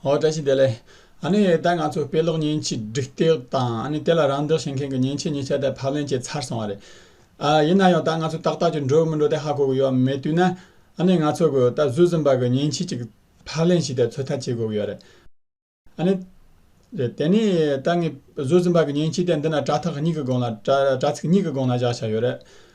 ཨོ་བཀྲ་ཤིས་བདེ་ལེགས། ཨ་ནི་ད་ང་ཚོ་དཔེ་ཀློག་མཉེན་ཆས་སྒྲིག་སྟེགས་དང་ཨ་ནི་དེ་ལ་རམ་འདེགས་བྱེད་མཁན་གྱི་མཉེན་ཆས་གཉིས་ཆ་དད་ཕབ་ལེན་བྱས་ཚར་སོང་བ་རེད། ཡིན་ན་ཡང་ད་ང་ཚོ་ཏག་ཏག་ཅིག་འགྲོ་མི་འགྲོ་དེ་ཧ་གོ་གི་ཡོད་མེད་དུས་ན། ཨ་ནི་ང་ཚོ་གི་ད་གཟོད་སུན་པ་གི་མཉེན་ཆས་ཅིག་ཕབ་ལེན་བྱས་ཏེ་ཚོད་ལྟ་བྱེད་དགོས་ཀྱི་ཡོད་རེད། ཨ་ནི། རེད་དེ་ནི་ད་ངས་གཟོད་སུན་པ་གི་མཉེན་ཆས་དེ་འདི་ན་དྲ་ཐག་གཉིས་ཀྱི་སྒང་ལ་དྲ་ཚིགས་གཉིས་ཀྱི་སྒང་ལ་བཞག་ཆ་ཡོད་རེད།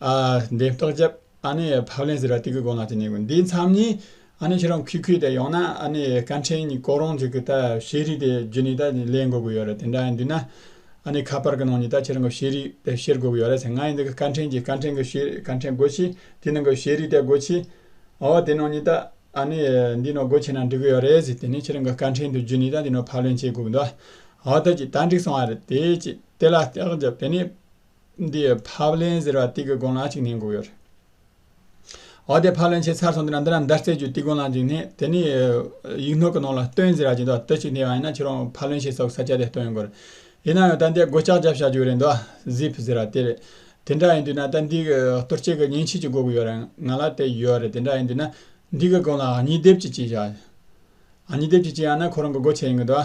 ཨ་འདི་ཏོག་ཅབ་ཨ་ནི་ཕབ་ལེན་ཟེར་བ་དེ་གི་གོ་ལ་དེ་ནས་གོ་འདི་མཚམས་ནི་ཨ་ནི་ཁྱེད་རང་ཁུལ་ཁུལ་དེ་ཡོང་ན་ཨ་ནི་སྐར་འཕྲེང་གཉིས་བསྐོར་རོང་ཅིག་གི་ད་ཤེས་རིག་དེ་རྒྱུ་ནི་ད་ལེན་དགོས་ཀི་ཡོད་རེད་དེ་འདྲ་ཡིན་དུས་ན་ཨ་ནི་ཁ་པར་གི་ནང་ནི་ད་ཁྱེད་རང་གི་ཤེས་རིག་དེ་ཤེར་དགོས་ཀི་ཡོད་རེད་ཟེར་ང་ཡི་འདི་གི་སྐར་འཕྲེང་གི་སྐར་འཕྲེང་གི་ཤེས་རིག་སྐར་འཕྲེང་སྒོ་ཕྱེ་དེ་ནང་གི་ཤེས་རིག་དེ་སྒོ་ཕྱེ་འོ་དེ་ནང་ནི་ད་ཨ་ནི་འདི་ནང་སྒོ་ཕྱེ་ན་འགྲིག་གི་ཡོད་རེད་ཟེར་དེ་ནི་ཁྱེད་རང་གི་སྐར་འཕྲེང་དེ་རྒྱུ་ནི་ད་འདི་ནང་ཕབ་ལེན་བྱེད་དགོས་ཀི་འདུག་ཨ་འོ་ད་ཅིག་ད་འགྲིག་སོང་བ་རེད་དེ་ཅིག་དེ་ལ་ཏོག་ཅབ་དེ་ནི། འདི་ཕབ་ལེན་ཟེར་བ་ཏིག་གི་དགོན་ལག་ཅིག་ནས་འགུགས་ཡོད་རེད། འོ་དེ་ཕབ་ལེན་བྱས་ཚར་སོང་དེ་ན་འདི་ན་མདའ་རྩེ་རྒྱུད་ཏིག་དགོན་ལག་ཅིག་ནས་དེ་ནས་ཡིག་ནོར་གྱི་ནང་ལ་སྟོན་ཟེར་བ་ཅིག་འདུག་དེ་ཅིག་ནས་ཡང་ན་ཁྱེད་རང་ཕབ་ལེན་བྱས་ཚར་བའི་ས་སྐྱ་དེ་སྟོན་ཡོང་དགོས་རེད། ཡིན་ན་ཡང་ད་འདི་སྒོ་ལྕགས་རྒྱབ་བཞག་རྒྱུ་རེད་འདུག Zip ཟེར་བ་དེ་རེད། དེ་འདྲ་ཡིན་དུས་ན་ད་འདི་གི་གཏོར་སྐྱེལ་གྱི་ཉིན་བྱེད་ཅིག་འགོག་གི་ཡོད་རེད་ང་ལ་དེ་ཡོད་རེད་དེ་འདྲ་ཡིན་དུས་ན་འདི་གི་དགོན་ལ་ཉི་ལྡེབས་ཅིག་བྱས་བཞག། ཉི་ལྡེབས་ཅིག་བྱས་ཡང་ན་ཁོ་རང་གི་སྒོ་ཕྱེ་ཡིན་གྱི་འདུག།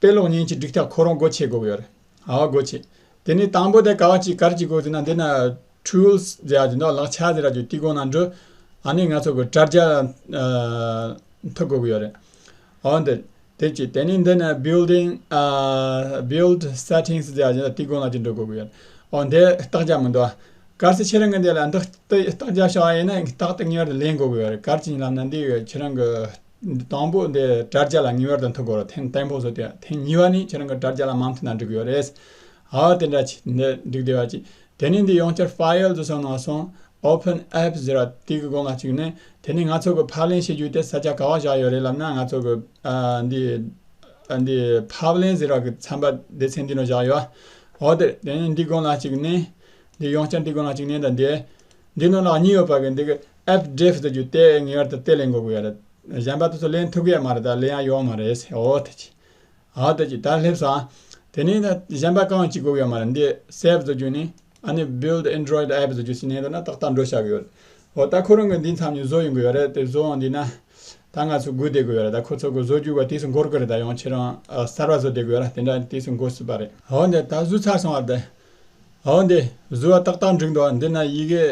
དཔེ་ཀློག་བརྙན་གྱི་སྒྲིག་ཐབས་ཁོ་རང་སྒོ་ཕྱེ་དགོས་ཀྱི་ཡོད་རེད། ཨ་བ་སྒོ་ཕྱེ། དེ་ནས་དང་པོ་དེ་ག་བ་ཅིག་གར་གྱི་སྒོ་དེ་ན་འདི་ན། Tools། ཟེར་ཡག་གྱི་འདུག་ལག་ཆ་ཟེར་ཡག་གྱི་དེའི་སྒོ་ན་འགྲོ། ཨ་ནི་ང་ཚོ་གི་དྲ་རྒྱ། འཐུ་དགོས་ཀྱི་ཡོད་རེད། ཨ་བ་འདི། དེ་གཅིག་དེ་ནས་འདི་ན Building། Build། Settings ཟེར་ཡག་གི་འདུག་དེའི་སྒོ་ན་ཅིག་འགྲོ་དགོས་ཀྱི་ཡོད་རེད། ཨོ་འདི་རྟགས་རྒྱག་མི་འདུག་ཨ། གར་སེ་ཁྱེད་རང་གི་འདི་ལ་འདི་རྟགས་རྒྱག་ཤག་ཨ་ཡིན་ན་རྟགས་དེ་ངེས་པར་དུ་ལེན་དགོས་ཀྱི་ཡོད་རེད། གར་གྱི་ལམ་ན་འདི་ཡོད་ཁྱེད་རང་གི། དང་པོ་དེ་དྲ་རྒྱ་ལ་ཉིན་བར་དུ་འཐུ་དགོས་རེད་དེ་དང་པོ་བཟོ་དུས་དེ་གཉིས་པ་ནི་ཁྱེད་རང་གི་དྲ་རྒྱ་ལ་མ་འཐུ་ན་འགྲིག་གི་ཡོད་རེད། ཧ་དེ་འདྲ་བྱས་ཏེ་འདི་འགྲིག་བདེ་བ་ཅི། དེ་ནི་འདི་ཡོང་འཆར File དུ་སོང་ནང་སོང། Open Apps ཟེར་བ་དེ་གི་སྒོ་ང་བཅུག་ནས་དེ་ནི་ང་ཚོ་གི་ཕབ་ལེན་བྱེད་རྒྱུ་དེ་ས་ཆ་ག་བ་བཞག་ཡོད་རེད་ལབ་ན་ང་ཚོ་གི་འདི་འདི་ཕབ་ལེན་ཟེར་བ་གི་ཚན་པ་དེ་ཚེ་འདི་ནང་བཞག་ཡོད། ཧོ་དེ་དེ་ནི་འདི་སྒོ་ང་བཅུག་ནས། འདི་ཡོང་འཆར་འདི་སྒོ་ང་བཅུག་ནས་དང་འདི། འདི་ནང་ལག་གཉིས་ཡོད་པ་གི་འདི་གི་ཨེད་འབྲེལ་ཟེར་རྒྱུ་དེ་ངེས་བར་དུ་དེ་ལས་འགོ་དགོས་ཡ་རེད། གཞན་པ་དེ་ཚོ་ལེན་ཐུབ་གི་ཡ་མ་རེད་ད་ལེན་ཡ་ཡོང་མ་རེད་ཟེར་ཨོ་ཐེ་ཅི། ཨའོ་ཐེ་ཅི་ད་སླེབས་སོང་ཨ། དེ་ནས་ད་གཞན་པ་གང་གཅིག་དགོས་གི་ཡ་མ་རེད་འདི save ཟེར་རྒྱུ་ནི་ཨ་ནི build android app ཟེར་རྒྱུ་ཞིག་ནས་དོན་ན་ཏག་ཏག་འགྲོ་ཤག་གི་ཡོད། ཨོ་ད་ཁོ་རང་གི་འདི་མཚམས་ནས་བཟོ་ཡོང་གི་ཡོད་རེད་དེ་བཟོའང་དེས་ན་ད་ང་ཚོ་སྒུག་བསྡད་དགོས་ཡ་རེད་ད་ཁོ་ཚོ་གི་བཟོ་རྒྱུ་བ་དུས་སུ་འགོར་གི་རེད་ད་ཡང་ཁྱེད་རང་གསར་བ་བཟོ་བསྡད་དགོས་ཡ་རེད་དེ་འདྲ་དུས་སུ་འགོ་སྲིད་པ་རེད། ཧོ་འདི་ད་བཟོས་ཚར་སོང་བ་དེ། འོན་ཏེ་གཟུ་བ་ཏག་ཏག་འགྲིག་འདུག་འདི་ན་ཡི་གེ་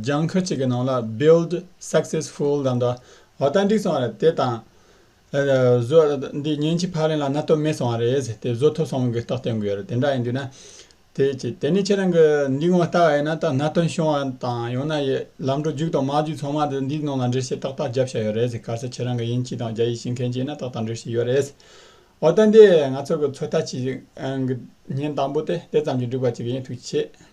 ལྗང་ཁུ་གཅིག་གི་ནང་ལ build successful ལབ་འདུག་འོ་ད་འགྲིག་སོང་རེད་དེ་དང། གཟུ་བ་འདི་ཉིན་གཅིག་ཕར་ལེན་ལ་སྣ་སྟོབས་མེད་སོང་བ་རེད་དེ་བཟོ་ཐུབ་སོང་གི་རྟགས་བསྟན་དགོས་རེད་དེ་འདྲ་ཡིན་དུས་ན། དེ་གཅིག་དེ་ནས་ཁྱེད་རང་གི་འདི་ངོ་ལྟ་བ་ཡིན་ན་ད་སྣ་སྟོན་བྱུང་བ་དང་ཡང་ན་ལམ་འགྲོ་རྒྱུག་དང་མ་རྒྱུག་ཚང་མ་དེ་འདིའི་ནང་ལ་འབྲི་བྱེད་ཏག་ཏག་རྒྱབ་ཤ་ཡོད་རེད་གལ་སྲིད་ཁྱེད་རང་གི་དབྱིན་སྐྱིད་དང་རྒྱ་ཡིག་ཤེས་མཁན་གཅིག་ཡིན་ན་ཏག་ཏག་འབྲི་བྱེད་ཡོད་རེད། འོ་ད་འདི་ང་ཚོ་གི་ཚོད་ལྟ་བྱེད་ཉིན་དང་པོ་དེ་དེ་ཙམ་གྱིས་འགྲིག་པ་ཅིག་ཡིན་ཐུགས་ཆེ།